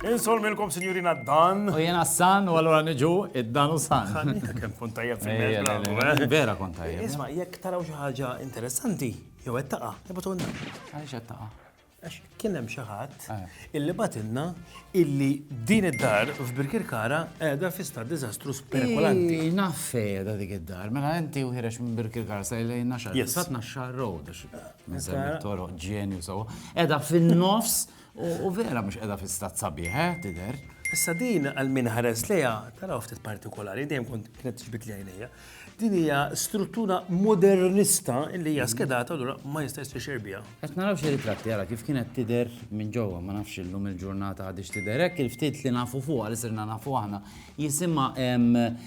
Insol milkom signorina Dan. U jena San, u għallura nġu id-Dan u San. Kem kun tajjeb fil-mezz. Vera kun tajjeb. Isma, jek taraw xaħġa interessanti, jew għed taqa, jibatu għanna. Għalix għed taqa. Għax kien hemm xi ħadd illi batilna illi din id-dar f'Birkirkara qiegħda fi stat diżastru spekulanti. Ii, Naf fejda dik id-dar, mela inti u ħirex minn Birkirkara sa ilejn naxar. Yes. Sat naxar road, għax minn semmi toro ġenju sawa. Edha fin-nofs u u vera mhux edha fi stat sabiħ, eh, tidher. Issa din għal min ħares lejha taraw ftit partikolari, dejjem kont kienet ġbit li għajnejja. Din hija struttura modernista li hija skedata allura ma jistax tixer biha. Qed naraw xi ritratti ara kif kienet tidher minn ġewwa, ma nafx illum il-ġurnata għadix tidher hekk, il-ftit li nafu fuqha li sirna nafu aħna. Jisimha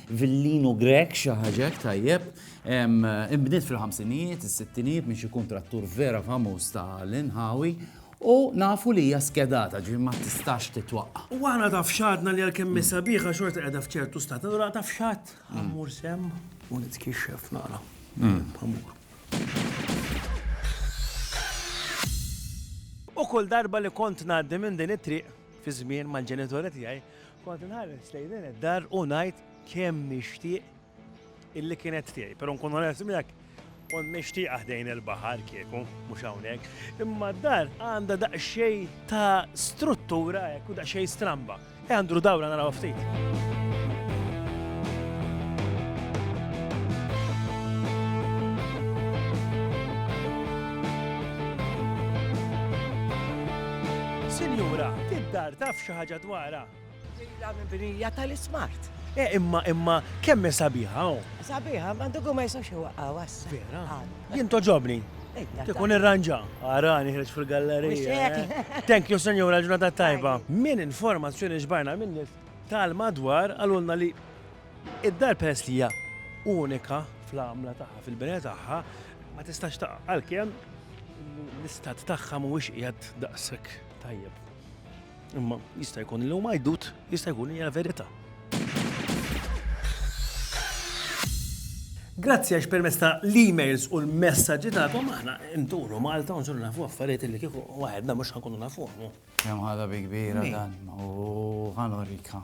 Villino Grek xi ħaġa hekk tajjeb. Inbniet fil-ħamsinijiet, is-sittinijiet minn xi kuntrattur vera famuż ta' l-inħawi u nafu li hija skedata ġifieri ma tistax titwaqqa'. U aħna taf x'għadna li għalkemm hi sabiħa xorta qiegħda f'ċertu stat, allura taf x'għad? Ħa mmur sehem u nitkixxef nara. Ħa mmur. U kull darba li kont ngħaddi minn din it-triq fi żmien mal-ġenitori tiegħi, kont inħares lejn din id-dar u ngħid kemm nixtieq illi kienet tiegħi. Però nkun onest miegħek, Kont nixtieqha ħdejn il-baħar kieku, mhux hawnhekk, imma d-dar għandha daqsxejn ta' struttura hekk u daqsxejn stramba. Ejja nduru dawra narawha ftit. Sinjura, id-dar taf xi ħaġa dwarha? Ġejja mibnija tal-ismart. Eh, imma, imma, kemm hi sabiħa, oh. Sabiħa, ma dugu ma jisax iwaqqa, wassa. Vera? Jien toġobni. Tikun irranġa. Ara, niħreġ fil-gallerija. Eh. Thank you, senjura, ġurnata tajba. Min informazzjoni ġbarna minn nis tal-madwar għalulna li id-dar peress li hija unika fl-għamla tagħha, fil-bene tagħha, ma tistax taqqa' għalkemm l-istat tagħha mhuwiex qiegħed daqshekk tajjeb. Imma jista' jkun li huma jdut, jista' jkun hija l-verità. Grazzi għax permezz ta' l-emails u l-messaġġi tagħkom aħna nturu Malta u nsuru nafu affarijiet li kieku waħedna mhux ħankunu nafuhom. Kemm ħadha bi kbira dan u ħanorika.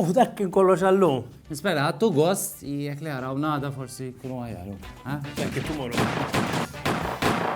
U dak kien kollox għallum. Nispera, għattu gost, jek li għaraw nada forsi kunu għajaru. Thank you, tomorrow.